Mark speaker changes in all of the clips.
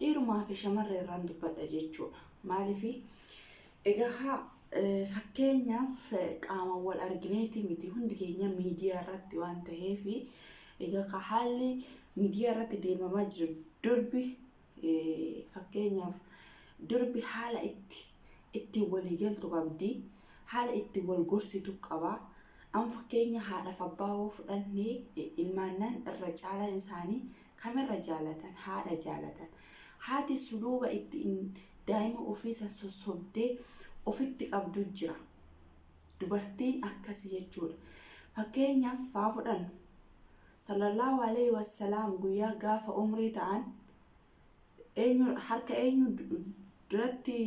Speaker 1: Dhiirumaa fi shamarree irraan dubbadha jechuudha. Maaliif? Egaa fakkeenyaaf qaamaan wal argineeti miti hundi keenya miidiyaa irratti waan ta'eef egaa haalli miidiyaa irratti deemamaa jiru durbi fakkeenyaaf durbi haala itti ittiin walii galtu qabdi haala ittiin wal gorsitu qaba amma fakkeenya haadhaaf abbaa yoo fudhanne ilmaannaan irra caalaan isaanii Kamirra jaalatan? Haadha jaalatan. Haati suluuba ittiin daa'ima ofii san sossobdee ofitti qabdu jira. Dubartiin akkasi jechuudha. Fakkeenyaaf haa fudhannu. Sallallahu alayhi wassalaam guyyaa gaafa umrii ta'an Eenyu harka eenyu duratti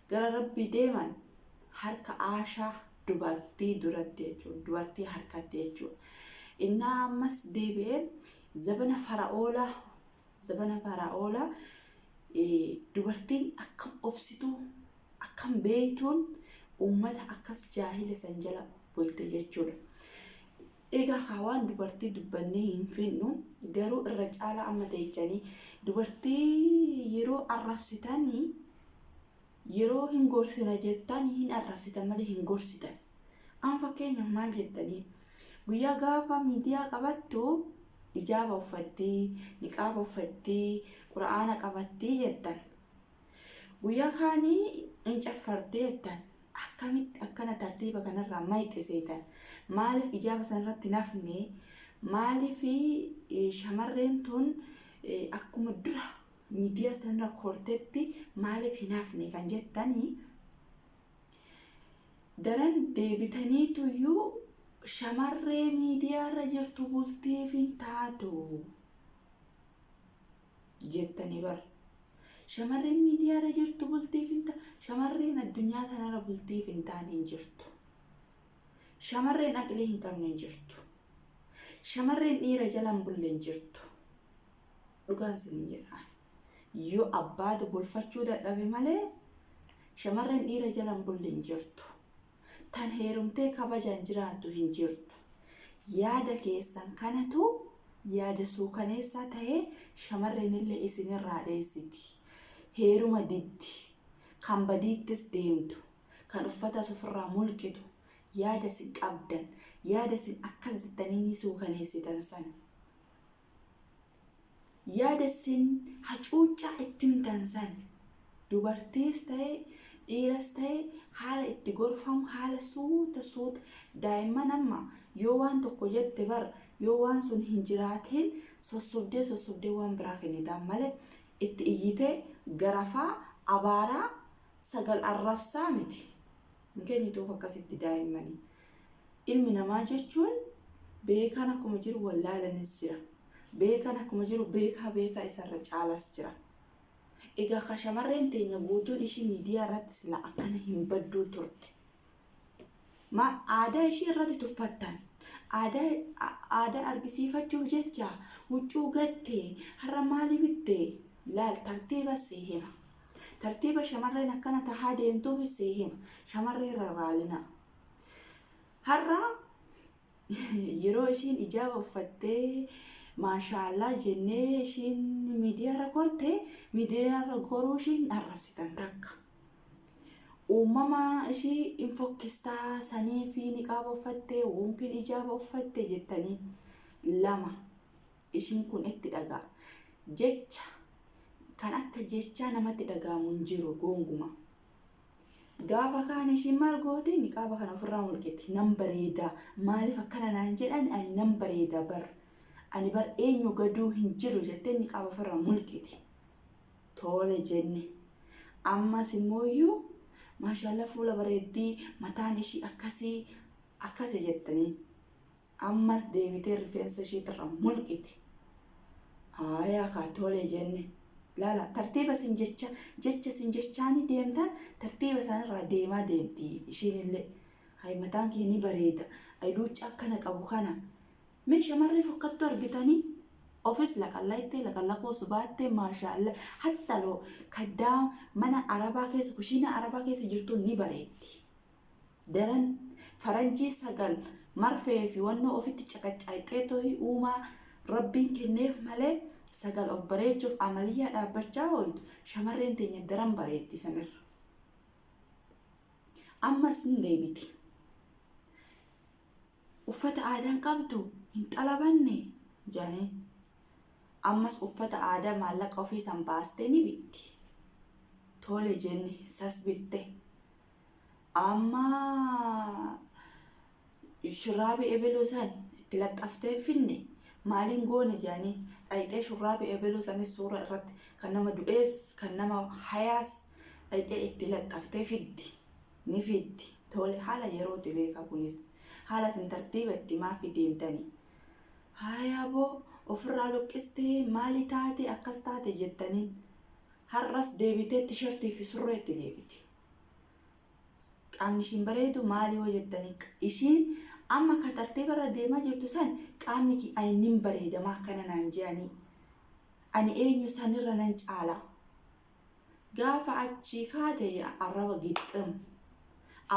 Speaker 1: gara Rabbii deeman? Harka Aashaa dubartii duratti jechuudha. Dubartii harkatti jechuudha. Innaa ammas deebi'ee zabana fara'oolaa zabana fara'oolaa dubartiin akkam obsituu akkam beeytuun ummata akkas jaahila san jala bulte jechuudha. Egaa kaa waan dubartii dubbannee hin fixnu garuu irra caalaa amma teechanii dubartii yeroo arrabsitanii yeroo hin gorsina jettan hin arrabsitan malee hin gorsitan. Amma fakkeenyaaf maal jettanii guyyaa gaafa miidiyaa qabattu ijaaba uffattii, niqaaba uffattii, qura'aana qabattii jettan. Guyyaa kaani in caffartee jettan akkamitti akkana tartiiba kanarraa mayxe seetan maaliif ijaaba sanarratti hin hafne maaliif shamarreen tun akkuma dura miidiyaa sanarra kortetti maaliif hin hafne kan jettanii daran deebitaniituyyuu shamarree miidiyaarra jirtu bultiif hin taatu. jettani bar shamarreen miidiyaarra jirtu bultiif hin ta shamarreen addunyaa tanarra bultiif hin taane hin jirtu shamarreen aqlii hin qabne hin jirtu shamarreen dhiira jala hin bulle hin jirtu dhugaan isin jedha yoo abbaatu bulfachuu dadhabe malee shamarreen dhiira jala hin bulle hin jirtu Tan heerumtee kabajaan jiraattu hin jirtu. Yaada keessan kanatu yaada suukaneessaa tahee shamarreenillee isinirraa dheessiti. Heeruma diddi. Kan badiittis deemtu. Kan uffatas ofirraa mulqitu. Yaada isin qabdan, yaada isin akkas jettanii ni suukaneessitan sana. Yaada issin hacuuccaa itti himtan san dubartiis ta'e dhiiras ta'e haala itti gorfamu haala suuta suuta daa'imman amma yoo waan tokko jette bar yoo waan sun hin jiraatiin sossobdee sossobdee waan biraa kennitaan malee itti iyyitee garafaa abaaraa sagal arrabsaa miti hin kennituuf akkasitti daa'immani. Ilmi namaa jechuun beekaan akkuma jiru wallaalanis jira. Beekaan akkuma jiru beekaa beekaa isarra caalas jira. Egaa ka shamarreen teenya guutuun ishii miidiyaa irratti silaa akkana hin badduu turte. Maal aadaa ishii irratti tuffattan. Aadaa aadaa argisiifachuuf jecha huccuu gattee har'a maali bittee laal tartiiba si hima. Tartiiba shamarreen akkana tahaa deemtuuf si hima. Shamarree rarraalinaa. Har'a yeroo ishiin ijaaba uffattee maashaallaa jennee ishiin miidiyaarra korte miidiyaarra goruu ishiin arrabsitan takka. Uumama ishii hin fokkistaa sanii fi niqaaba uffattee woompiin ijaaba uffatte jettanii lama ishiin kun itti dhagaa jecha kan akka jechaa namatti dhagaamu hin jiru goonguma. Gaafa kaana ishiin maal goote niqaaba kana ofirraa mulqite nan bareeda maaliif akkana naan jedhan ani nan bareeda bar ani bar eenyu gaduu hin jiru jettee niqaaba ofirraa mulqite toole jenne ammas immooyyuu maashaallah fuula bareeddii mataan ishii akkasii akkasi jettanii Ammas deebitee rifeensa ishiitirra mulqite. Aayaa kaa tole jenne. Laala tartiiba isin jecha jecha isin jechaanii deemtan tartiiba isaanirraa deemaa deemti ishiinillee. Hay mataan kee ni bareeda. Ay luucca akkana qabu kana. Mee shamarree fokkattuu argitanii? Ofis laqallayxee laqallaqoo subaattee maashaalla hattaloo kaddaama mana arabaa keessa kushiinaa arabaa keessa jirtu ni bareeddi. Daran faranjii sagal marfee fi wannoo ofitti caqacaayxee tohi uumaa Rabbiin kenneef malee sagal of bareechuuf amaliyyaa dhaabbachaa ooltu shamarreen teenya daran bareeddi san irra. Ammas ni deebiti. Uffata aadaa hin qabdu hin xalabanne jaaniin. Ammas uffata aadaa maallaqa ofii san baastee ni bitti. Tole jenne sas bitte. Amma shurraabi ebeluu san itti laxxaftee hin finne maaliin goona jedhanii dhayxee shurraabi ebeluu sanis suura irratti kan nama du'ees kan nama hayaas dhayxee itti laxxaftee fiddi ni fiddi tole haala yerooti beeka kunis haala sin tartiiba itti maafi deemtani haayaa boo ofirraa luqqistee maali taate akkas taate jettaniin har'as deebitee tishertii fi surreetti deebiti. Qaamni ishiin bareedu maali yoo jettani ishiin amma ka tartiiba irra deemaa jirtu san qaamni kiyya nin bareeda maa akkana naan je'anii ani eenyu sanirra nan caala gaafa achii kaate arraba gixxim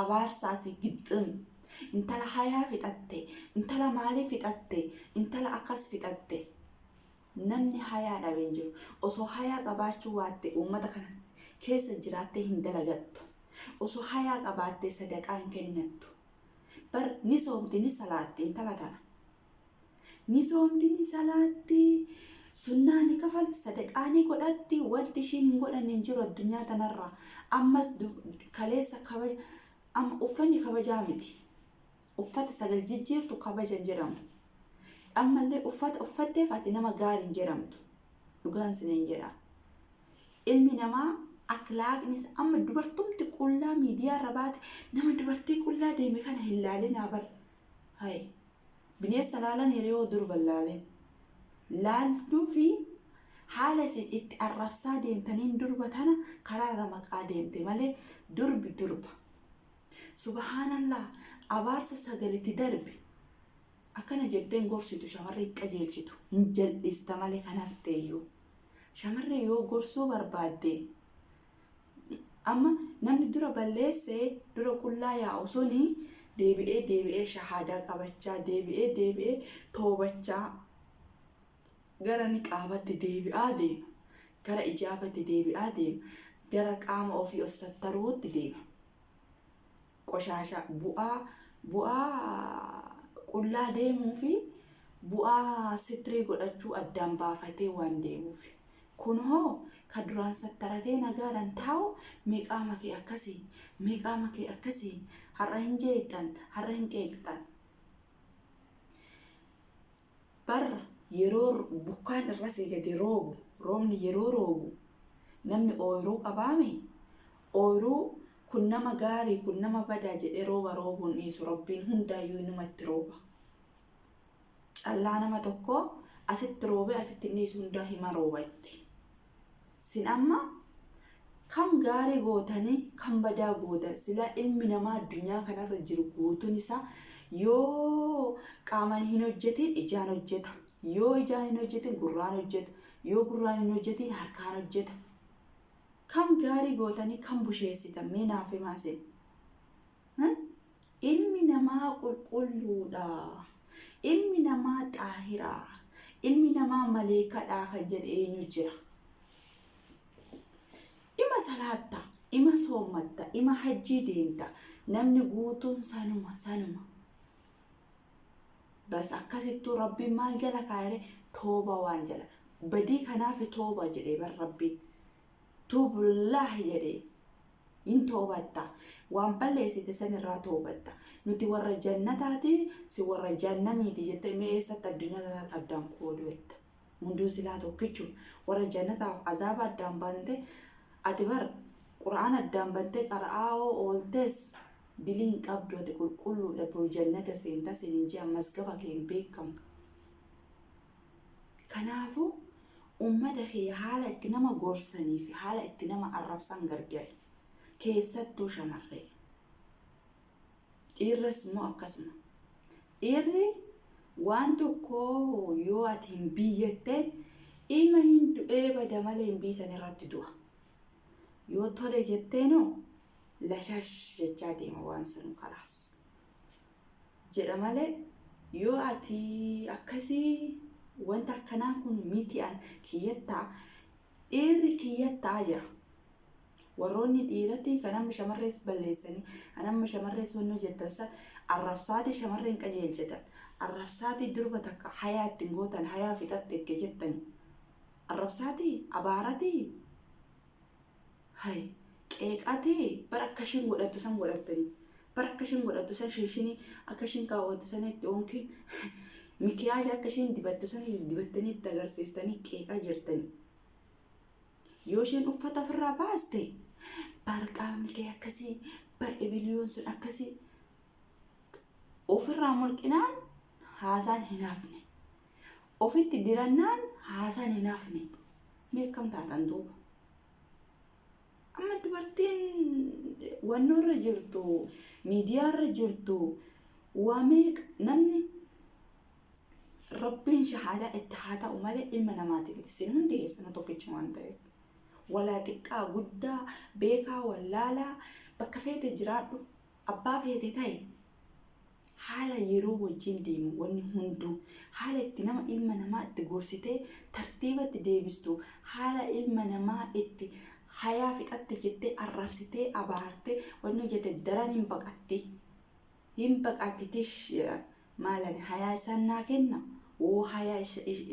Speaker 1: abaarsa asii gixxim intala hayaa fixatte intala maalii fixatte intala akkas fixatte Namni hayaa dhabe hin jiru. Osoo hayaa qabaachuu waatte uummata kana keessa jiraattee hin dalagattu. Osoo hayaa qabaattee sadaqaa hin kennattu. Bar ni soomti ni salaatti intala tana. Ni soomti ni salaatti, sunnaa ni kafalti, sadaqaa ni godhatti, wanti ishiin hin godhanne hin jiru addunyaa tanarraa. Ammas kaleessa kabaja amma uffanni kabajaa miti. Uffata sagal jijjiirtu kabaja hin jedhamu. Ammallee uffata uffatteef ati nama gaari hin jedhamtu. Dhugaan isiniin jedha. Ilmi namaa akhlaaqnis amma dubartumti qullaa miidiyaarra baate nama dubartii qullaa deeme kana hin laalinaa bar. Hayi. Bineessa laalan hiriyoo durba hin laalin. Laaltuu fi haala isin itti arrabsaa deemtaniin durba tana karaarra maqaa deemte malee durbi durba. Subahaanallah abaarsa sagal itti darbe akkana jettee hin gorsitu shamarree hin qajeelchitu hin jal'ista malee kan hafteeyyuu shamarree yoo gorsuu barbaadde amma namni dura balleesse dura qullaa yaa'u suni deebi'ee deebi'ee shahaadaa qabachaa deebi'ee deebi'ee toobachaa Gara niqaabatti deebi'aa deema. Gara ijaabatti deebi'aa deema. Gara qaama ofii of sattaruutti deema. Qoshaashaa, bu'aa, bu'aa qullaa deemuu fi bu'aa sitrii godhachuu addaan baafatee waan deemuufi. Kun hoo ka duraan sattaratee nagaadhaan taa'u mee qaama kee akkasi, mee qaama kee akkasi, har'a hin jeettan, har'a hin qeeqxan. Barra yeroo bokkaan irra see gade roobu, roobni yeroo roobu namni ooyruu qabaami? Ooyruu kun nama gaarii kun nama badaa jedhee rooba roobuu hin dhiisu Rabbiin hundaayyuu inuma itti rooba. Callaa nama tokkoo asitti roobee asitti hin dhiisu hundaa hima rooba itti. Sin amma Kan gaarii gootanii Kan badaa gootan silaa ilmi namaa addunyaa kanarra jiru guutuun isaa yoo qaaman hin hojjetiin ijaan hojjeta yoo ijaan hin hojjetiin gurraan hojjeta yoo gurraan hin hojjetiin harkaan hojjeta Kan gaarii gootanii Kan busheessitan mee naaf himaa sin Ilmi namaa qulqulluudha. Ilmi namaa xaahira. Ilmi namaa maleekadha kan jedhe eenyu jira? Ima salaatta, ima soommatta, ima hajjii deemta. Namni guutuun sanuma sanuma. Bas akkasittuu rabbiin maal jala kaayere tooba waan jala. Badii kanaaf tooba jedhee bar rabbiin. Tuubullaahi jedhee. Hin toobatta. Waan balleessite san irraa toobatta. Nuti warra jannataati, si warra jahannamiiti jettee mee eessatti addunyaa tanatti addaan qooduu edda? Hunduu silaa tokkichuma. Warra jannataaf azaaba addaan baante, ati bar Qur'aana addaan bantee qara'aa hoo ooltes dilii hin qabdu ati qulqulluudha boru jannata seenta siin hin je'an mazgaba kee hin beekkamu. Kanaafuu ummata kee haala itti nama gorsanii fi haala itti nama arrabsan gargari. Keessattuu shamarree. Dhiirras immoo akkasuma. Dhiirri waan tokko yoo ati hin biiyyette ima hin du'ee bada malee hin biisan irratti du'a. Yoo tole jetteenoo lashash jechaa deema waan sanu kalaas. jedha malee yoo ati akkasii wanta akkanaa kun miti an kiyyattaa dhiirri kiyyattaa jira. Warroonni dhiiratii kan amma shamarrees balleessanii kan amma shamarrees wanni hojjettan san arrabsaatii shamarreen qajeelchitan arrabsaatii durba takka hayaa ittiin gootan hayaa fixatte itti jettanii arrabsaatii abaaratii Hay. Qeeqaa tee bar akka ishiin godhattu san godhattani bar akka ishiin godhattu san shinshinii akka ishiin kaawwattu san itti onkin mikiyaaja akka ishiin dibattu san dibattanii itti agarsiistanii qeeqaa jirtani yoo isheen uffata ofirraa baaste bar qaamni kee akkasii bar ibiliyoon sun akkasii ofirraa mulqinaan haasaan hin hafne ofitti dirannaan haasaan hin hafne mee akkam taatan duuba Amma dubartiin wannoo irra jirtu, miidiyaa irra jirtu, waa meeqa namni rabbiin shahaadaa itti haa ta'u malee ilma namaati miti. Isin hundi keessanuu tokkichuma waan ta'eef. Walaa xiqqaa guddaa beekaa wallaalaa bakka feete jiraadhu. Abbaa feete ta'i. Haala yeroo wajjin deemu wanni hunduu. Haala itti nama ilma namaa itti gorsitee tartiibatti deebistu, haala ilma namaa itti hayaa fixatte jettee arrabsitee abaarte wanni hojjatte daran hin baqatti. Hin baqatti tish jedha. Maal ani hayaa isaan naa kenna? Woo hayaa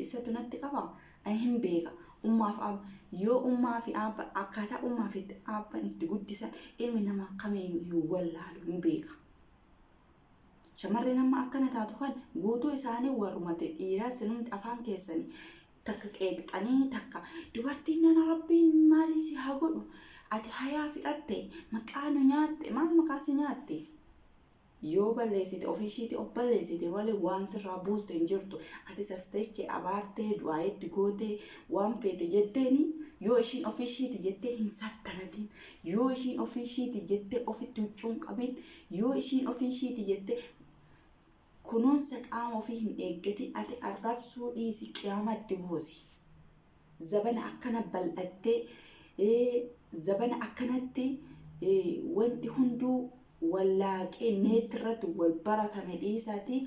Speaker 1: isatu natti qaba? Ani hin beeka. Ummaa fi aabba yoo ummaa fi aabba akkaataa ummaa fi aabban itti guddisan ilmi namaa kamiyyuu hin wallaalu hin beeka. Shamarreen amma akkana taatu kan guutuu isaanii warrumate dhiiraa sinumti afaan keessanii takka qeeqxanii takka dubartiin nana rabbiin maalii si haa godhu ati hayaa fixatte maqaa nu nyaatte maal maqaa si nyaatte? Yoo balleessite ofii ishiiti of balleessite malee waan sirraa buuste hin jirtu. Atis as teechee abaartee du'aa itti gootee waan feete jetteeni yoo ishiin ofii ishiiti jettee hin sattanatiin yoo ishiin ofii ishiiti jettee ofitti huccuun qabiin yoo ishiin ofii ishiiti jettee kunuunsa qaama ofii hin eeggatiin ati arrabsuu dhiisi qiyaama itti buusi. Zabana akkana bal'attee, zabana akkanatti wanti hunduu wallaaqee neetti irratti wal baratame dhiisaatii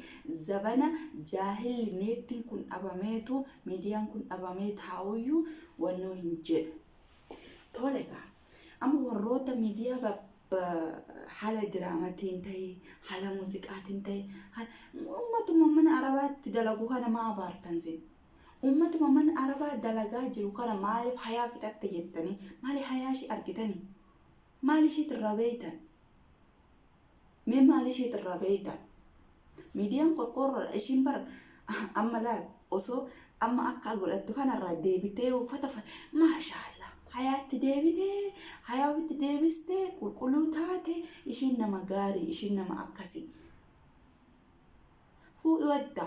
Speaker 1: zabana jaahilli neettiin kun dhabameetu miidiyaan kun dhabamee taa'uyyuu wannoo hin jedhu. Tole kaa amma warroota miidiyaa haala diraamatiin ta'e haala muuziqaatiin ta'e uummatuma mana arabaatti dalagu kana maa abaartan sin? Ummatuma mana arabaa dalagaa jiru kana maalif hayaa fixatte jettanii maali hayaa ishii argitanii maal ishiit irraa beeytan mee maal ishiit irraa beeytan miidiyaan qorqoorroodha ishiin bar amma laal osoo amma akka godhattu kanarraa deebitee uffata uffata maashaallah hayaatti deebitee hayaa ofitti deebistee qulqulluu taate ishiin nama gaarii ishiin nama akkasii Fuudhuu hedda.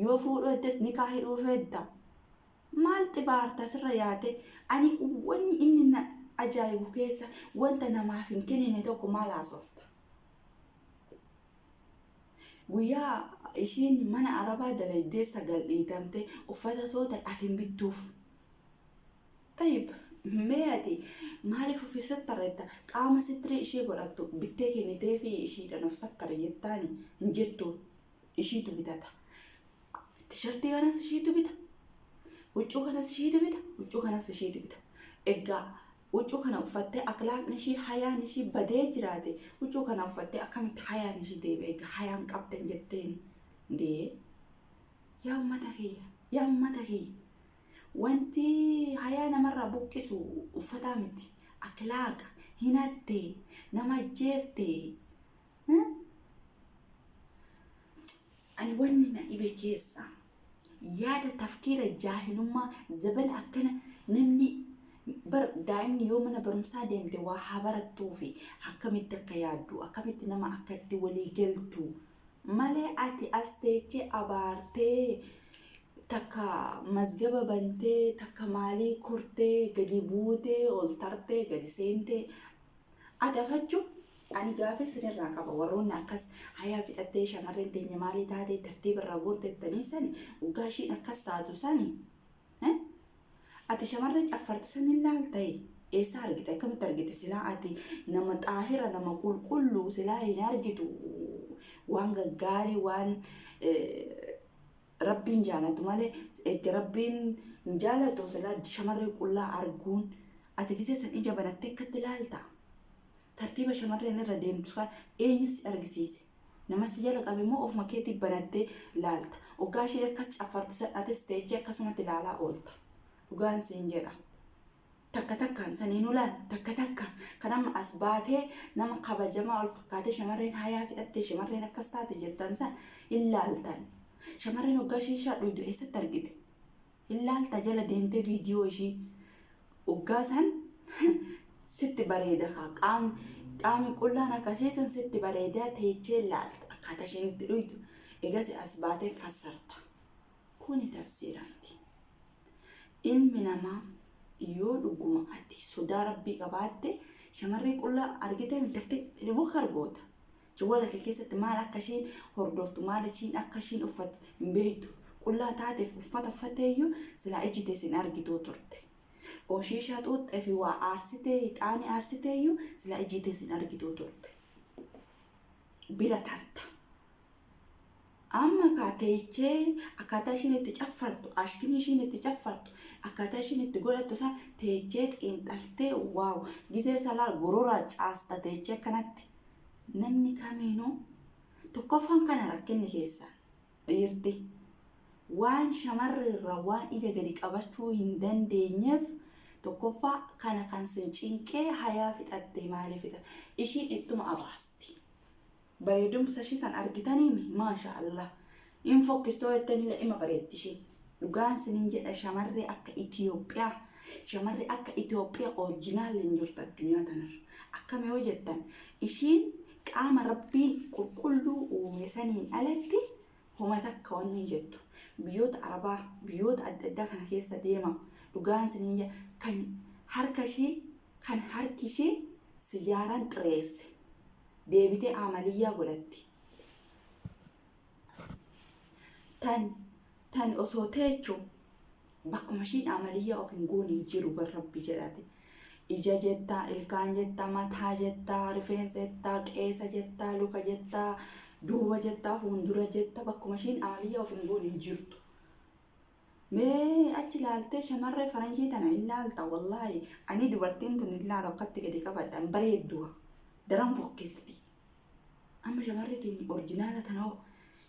Speaker 1: Yoo fuudhuu heddes nikaa hidhuu hedda. Maal xibaarta asirra yaate ani wanni inni na ajaa'ibu keessa wanta namaaf hin kenine tokko maal haasofta. Guyyaa ishiin mana arabaa dalaydee sagal dhiitamte uffata soota ati hin bittuuf. Tayyib mee ati maaliif ufi sattara jetta qaama sitrii ishii godhattu bittee kenniteefii ishiidhan of sattari jettaani hin jettu ishiitu bitata tishartii kanas ishiitu bita huccuu kanas ishiitu bita huccuu kanas ishiitu bita eggaa huccuu kana uffattee akhlaaqni ishii hayaan ishii badee jiraate huccuu kana uffattee akkamitti hayaan ishii deebi'e egaa hayaan qabdan jetteen dee yaa ummata kiyya yaa ummata kiyya Wanti hayaa namarraa buqqisu uffataa miti. Akhlaaqa. Hinatte. Nama ajjeefte. Hmm? Ani wanni na dhibe keessa yaada tafkiira jaahilummaa zabana akkana namni bar daa'imni yoo mana barumsaa deemte waa haa barattuu fi akkamitti akka yaaddu akkamitti nama akka itti walii galtu malee ati as teechee abaartee Takka mazgaba bantee, takka maalii kortee, gadi buutee, ol tartee, gadi seentee. Adafachu ani gaafii sinirraa qaba warroonni akkas hayaa fixattee shamarreen teenya maalii taatee tartiiba irraa goortettanii sani waggaa ishiin akkas taatu sani. Eh? Ati shamarree caffartu san hin laaltayi. Eessaa argite akkamitti argite silaa ati nama xaahira nama qulqulluu silaa hin argitu waan gaggaarii waan eh, Rabbiin jaalatu malee egga rabbiin hin jaalatu sila shamarree qullaa arguun ati gisee san ija banattee akkatti laalta tartiiba shamarreen irra deemtu kan eenyu si argisiise nama si jala qabe moo ofuma keetii banattee laalta oggaa ishee akkas caffartu san atis teechee akkasumatti laalaa oolta dhugaan siin jedha takka takkaan saniin ulaan takka takka kan amma as baatee nama kabajamaa ol fakkaatee shamarreen hayaa fixattee shamarreen akkas taate jettan san hin laaltan. Shamarreen hoggaa shiishaa dhuydu eessatti argite? Hin laalta jala deemtee viidiyoo ishii hoggaa san sitti bareeda kaa qaam qaami qullaan akkasii san sitti bareedaa teechee laalta akkaataa isheen itti dhuydu egas as baatee fassarta. Kuni tafsiira miti. Ilmi namaa yoo dhuguma ati sodaa Rabbii qabaatte shamarree qullaa argiteem daftee dhibokar goota. Jawwala kee keessatti maal akka ishiin hordoftu maal ishiin akka ishiin uffattu hin beektu. Qullaa taateef uffata uffatteeyyuu silaa ijji tee sin argituu turte. Oo shiishaa xuuxxee fi waa aarsitee hixaanii aarsiteeyyuu silaa ijji tee sin argituu turte. Bira tarta. Amma ekaa teechee akkaataa ishiin itti caffartu, ashkimii ishiin itti caffartu, akkaataa ishiin itti godhattu isaa teechee xiinxaltee waaw gizee salaa gorora caasta teechee akkanatti. Namni kamiinuu tokkoffaan kana rakkinni keessaan dhiirti waan shamarri irraa waan ija gadi qabachuu hin dandeenyeef tokkoffaa kana kan sin cinqee hayaa fixattee maalii fixa ishiin ittuma abaasti. Bareedumsa ishii san argitaniimi maasha allah in fokkistoo jettanile ima bareeddi ishiin dhugaan sinin jedha shamarree akka Ethiopia shamarree akka Ethiopia orjinaalle hin jirtu addunyaa tanarra akkami yoo jettan ishiin qaama rabbiin qulqulluu uume saniin alatti homa takka wanni hin jettu biyyoota arabaa biyyoota adda addaa kana keessa deema dhugaan sinin jedha kan harka ishii kan harki ishii sijaaraan xireesse deebitee aamaliyyaa godhatti. Tan tan osoo teechu bakkuma ishiin aamaliyyaa of hin goone hin jiru bar rabbi jedhate. Ija jetta, ilkaan jetta, mataa jetta, rifeensa jetta, qeesa jetta, luka jetta, duuba jetta, fuundura jetta bakkuma ishiin aamaliyyaa of hin goone hin jirtu. Mee achi laaltee shamarree faranjii tana hin laalta wallaahi ani dubartiin tun hin laalu akkatti gadi qabadha hin bareeddu daran fokkisti amma shamarree teenya orjinaala tanoo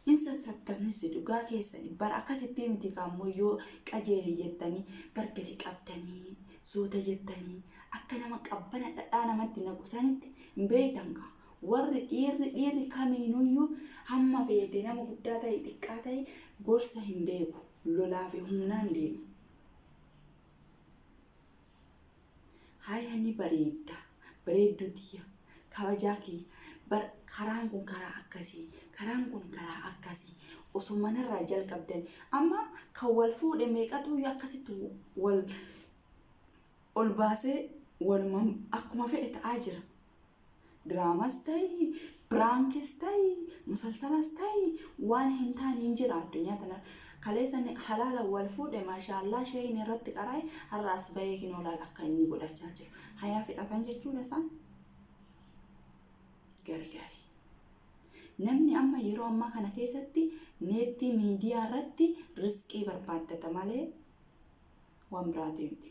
Speaker 1: hin sassabtanisi dhugaa keessani bar akkasittii miti kaammoo yoo qajeeli jettanii bar gadi qabdanii suuta jettanii akka nama qabbana dhadhaa namatti naqusanitti hin beeytan kaa Warri, dhiirri, dhiirri kamiinuyyuu hamma feete nama guddaa ta'i xiqqaa ta'i gorsa hin beeku. Lolaa fi humnaan deema. Haaya ni bareedda, bareedduu tiyya, kabajaa kiyya, bar karaan kun karaa akkasii, karaan kun karaa akkasii osoo manarraa jalqabdanii amma kan wal fuudhe meeqatuyyuu akkasitti wal ol baasee waluman akkuma fedhe ta'aa jira. Diraamas ta'ii, piraankis ta'ii, musalsalas ta'ii waan hin taane hin jira addunyaa tana. Kaleessa ni halaala wal fuudhe maashaallaa sheeyni irratti qaraa'e har'a as bahee hin oolaal akka inni godhachaa jiru. Hayaa fixatan jechuudha isaan. Gargari. Namni amma yeroo ammaa kana keessatti neettii miidiyaa irratti risqii barbaaddata malee wan biraa deemti.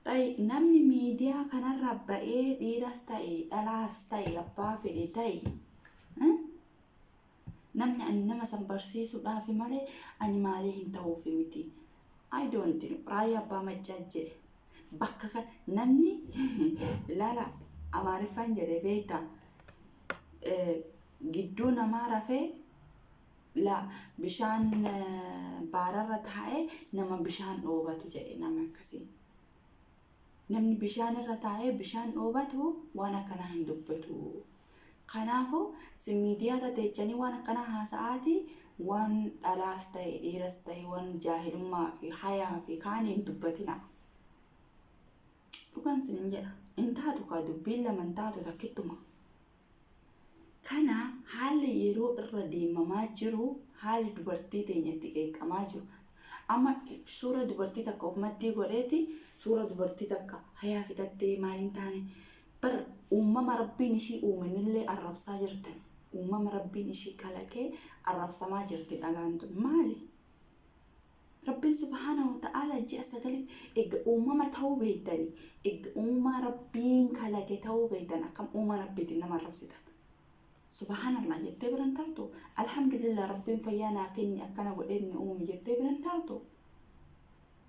Speaker 1: Xay namni miidiyaa kanarra ba'ee dhiiras ta'e dhalaas ta'e abbaa fedhe ta'e namni ani nama san barsiisuudhaaf malee ani maalee hin ta'uuf miti. I don't know raayyaa abbaa maccaa jedhe bakka kan namni laala amaariffaan jedhe beekta gidduu namaa rafee la bishaan baararra taa'e nama bishaan dhoobatu jedhe nama akkasii namni bishaan irra taa'ee bishaan dhoobatu waan akkanaa hin dubbatu kanaafu si miidiyaa irra teechanii waan akkanaa haasa'aatii waan dhalaas ta'e dhiiras ta'e waan jaahilummaa fi hayaa fi kaanii hin dubbatina dhugaan sin hin jedha hin taatu kaa dubbiin lama hin taatu takkittuma Kana haalli yeroo irra deemamaa jiru haalli dubartii teenya itti qeeqamaa jiru amma suura dubartii takka of maddii godheeti suura dubartii takka hayaa fitattee maal hin taane bar uumama rabbiin ishii uumenillee arrabsaa jirtan uumama rabbiin ishii kalaqee arrabsamaa jirti dhalaan tun maali Rabbiin subhaanahu wa ta'aalaa ji'a sagaliif egga uumama ta'uu beektanii, egga uumaa Rabbiin kalaqe ta'uu beektan akkam uumaa Rabbiitiin nama arrabsitan? Subhaanallaah jettee bira hin tartu? Alhamdulillaah Rabbiin fayyaa naa kenne akkana godhee inni uume jettee bira hin tartu?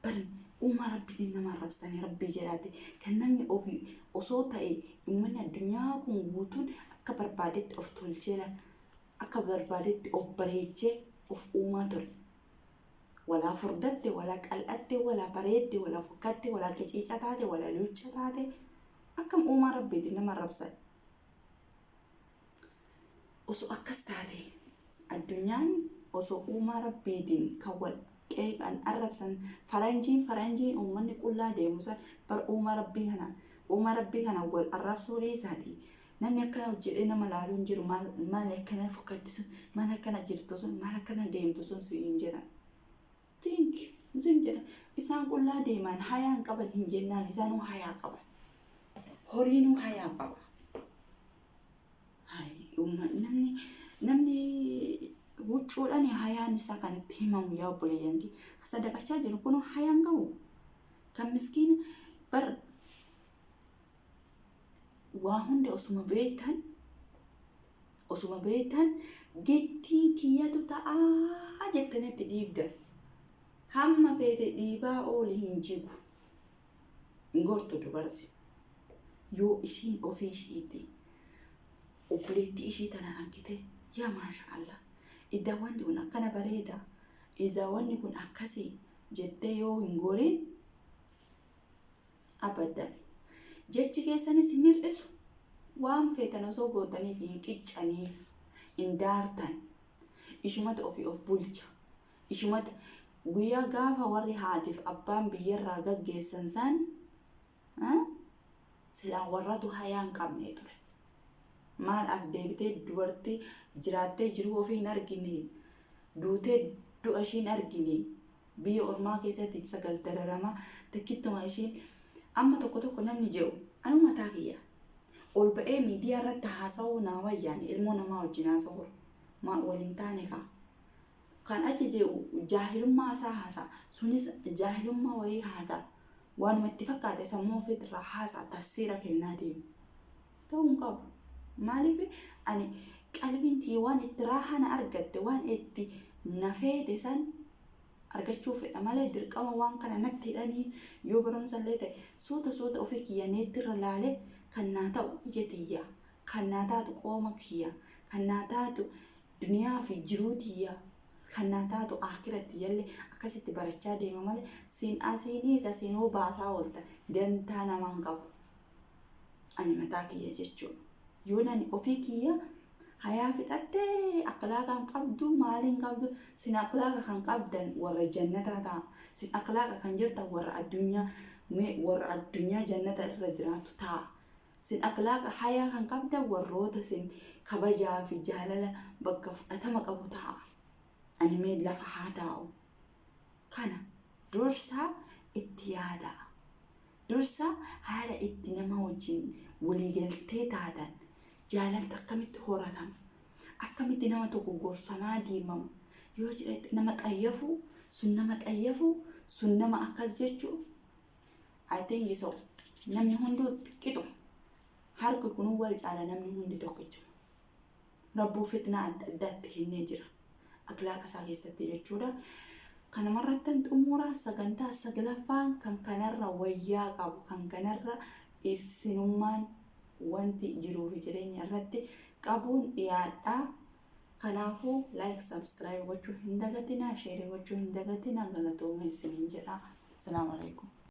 Speaker 1: Bari uumaa Rabbiitiin nama arrabsanii Rabbii jedhaati kan namni ofii osoo ta'e ummanni addunyaa kun guutuun akka barbaadetti of tolchee la- akka barbaadetti of bareechee of uumaa ture. Walaa furdatte, walaa qal'atte, walaa bareedde, walaa fokkatte, walaa qiciica taate, walaa luucca taate, akkam uumaa Rabbiitiin nama arrabsan. Osoo akkas taatee, addunyaan osoo uumaa Rabbiitiin kan wal qeeqan arrabsan, faranjiin faranjiin uummanni qullaa deemu san bar uumaa Rabbii kana uumaa Rabbii kana wal arrabsuu dhiisaati Namni akkana hojjedhee nama laaluu hin jiru maal maal akkana fokkatti sun maal akkana jirtu sun maal akkana deemtu sun si hin jedhan. Tink sin jedhan isaan qullaa deeman hayaa hin qaban hin jennaan isaanuu hayaa qaban. Horiinuu hayaa qaba. Hai, uumma- Namni namni huccuudhaan hayaan isaa kan itti himamu yaa obboleeyyan kee. Kan sadaqachaa jiru kun hayaan qabu. Kan miskiin bar waa hunda osuma beektan osuma beektan gittiin kiyyatu ta'aa jettanitti dhiibdan hamma feete dhiibaa ooli hin jigu hin gortu dubarti yoo ishiin ofii ishiitti obboleettii ishii tana argite yaa maasha allah iddaa wanti kun akkana bareeda izaa wanni kun akkasii jettee yoo hin gorin Abadan. Jechi keessanis hin hir'isu. Waan feetan osoo gootaniif hin qiccaniif. Hin daartan. Ishumatu ofii of bulcha. Ishumatu guyyaa gaafa warri haatiif abbaan biyyarraa gaggeessan san ah, silaa warratu hayaa hin qabne ture. Maal as deebitee dubartii jiraattee jiruu ofii hin argine. Duutee du'a ishii hin argine. Biyya ormaa keessatti sagal dararamaa takkittuma ishiin amma tokko tokko namni je'u anuu mataa kiyya ol ba'ee miidiyaa irratti haasa'uu naa wayyaani ilmoo namaa wajjin haasa'uu maa wal hin taane kaa kan achi je'u jaahilummaa isaa haasa'a sunis jaahilummaa wayii haasa'a waanuma itti fakkaate sammuu ofiitirraa haasa'a tafsiira kennaa deema. ta'uu hin qabu. Maaliif ani qalbiin tiyya waan itti raahana argatte waan itti na feete san argachuu fedha malee dirqama waan kana natti hidhanii yoo barumsa illee ta'e suuta suuta ofii kiyya neettirra laale kan naa ta'u ija tiyya kan naa taatu qooma kiyya kan naa taatu duniyaa fi jiruu tiyya kan naa taatu aakira tiyyalle akkasitti barachaa deema malee siin asiiniis asiinuu baasaa oolta dantaa namaan qabu. Ani mataa kiyya jechuu. Yoon ani ofii kiyya hayaa fixadhe akhlaaqa hin qabdu maali hin qabdu sin akhlaaqa kan qabdan warra jannataa ta'a sin akhlaaqa kan jirtan warra addunyaa mee warra addunyaa jannata irra jiraatu ta'a sin akhlaaqa hayaa kan qabdan warroota sin kabajaa fi jaalala bakka fudhatama qabu ta'a ani mee lafa haa taa'u kana dursaa itti yaadaa Dursa haala itti nama wajjin waliigaltee taatan, jaalalti akkamitti horatama, akkamitti nama tokko gorsamaa deemama yoo jedhette nama xayyafu, sun nama xayyafu, sun nama akkas jechu I think so. Namni hunduu qixuma. Harki kunuu wal caala namni hundi tokkichuma. Rabbuun fitnaa adda addaa itti kennee jira. Aklaaqa isaa keessatti jechuudha. Kanumarrattan xumuraa sagantaa saglaffaan kan kanarra wayyaa qabu kan kanarra isinummaan wanti jiruu fi jireenya irratti qabuun dhiyaadha. Kanaafuu like subscribe gochuu hin dagatinaa, share gochuu hin dagatinaa galatooma isiniin jedha. Salaamu alaikum.